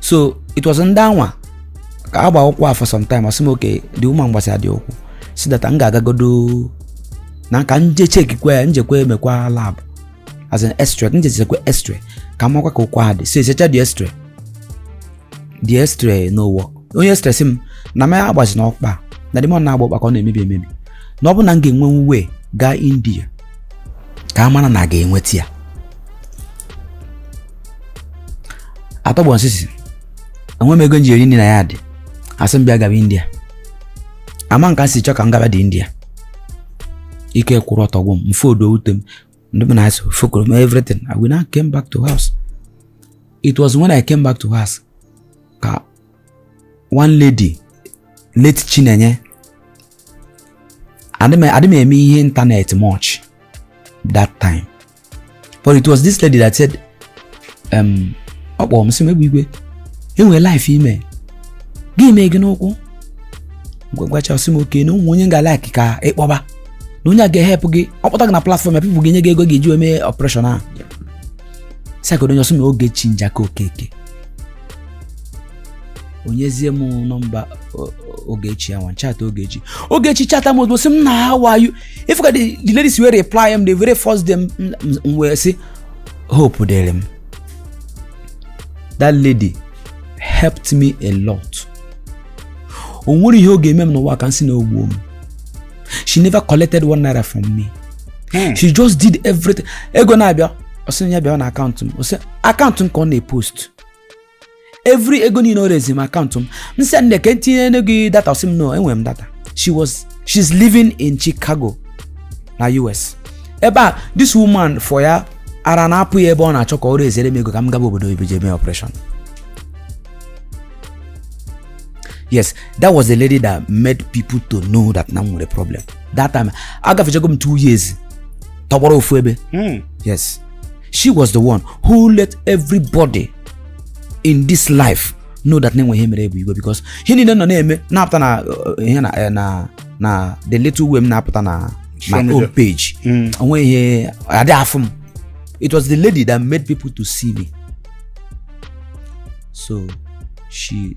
so it was ndị anwa ka agba ụkwụ a for some time ọsị m okay the woman gbasa ya the ụkwụ sị that m ga-agagodo na ka m jee chekikwa ya m jekwa emekwa lab as in x-ray ka m jee chekwa x-ray ka makwa ka ụkwụ a dị so echecha the x-ray the x-ray no work onye x-ray sị m na mụ ya agbazina ọkpa na the more na agba ọkpa ka ọ na-emebi emebi na ọ bụ na m ga-enwe way gaa india ka a mara na a ga-enweta ya atọgbọ m sisi enwe m ego m ji eri nri na ya dị asị m bịa gaba india ama m ka e si chọ ka m gaba the india ike kwụrụ ọtọ gwụ m mfe odo wute m ndị m na-asị fokoro m everything I will now came back to house it was when I came back to house ka one lady late Chinenye adị m eme ihe ịntanetị much that time but it was this lady that said um, ọ kpọrọ m sị m Egbeigwe enwere ife eme gị mee gị n'ụkwụ gwagwacha ọsị m okay na o nwe onye m ga like ka ịkpọba na onye a ga-ehelp gị ọ kpọta gị na platfọm ya people ga-enye gị ego ị ga-eji wee mee ọpreshọn ahụ sị ya kedụ onye ọsị m ogechi njaka okeke o nyezie m nọmba ogechi ya nwa chata ogechi ogechi chata m ozugbo sị m na how are you ifu ka the the lady si wee reply m the very first day m m- m- m wee sị hope dịrị m that lady helped me a lot o nwere ihe ọ ga-eme m n'ụwa ka m sị na o gbuo m she never collected one naira from me Hmm. she just did everything ego na-abịa ọ sị na ya bịa na akaụntụ m ọ sị akaụntụ m ka ọ na-epost every ego niile o rezi m akaụntụ m m sị nne ka e tinye gị data ọsị m no enwere m data she was she's living in Chicago na US ebe a this woman fọ ya ara na-apụ ya ebe ọ na-achọ ka ọ rezere m ego ka m gaba obodo oyibo jee mee operation yes that was the lady that made people to know that na m nwere problem that time agafechago m two years tọgbọrọ ofu ebe hmm. yes she was the one who let everybody in this life know that na e nwe ihe mere Egbeigwe because ihe niile nọ na-eme na-apụta na uh, ihe na eh, na na the little way m na-apụta na my own page mm. onwe ihe adị afụ m it was the lady that made people to see me so she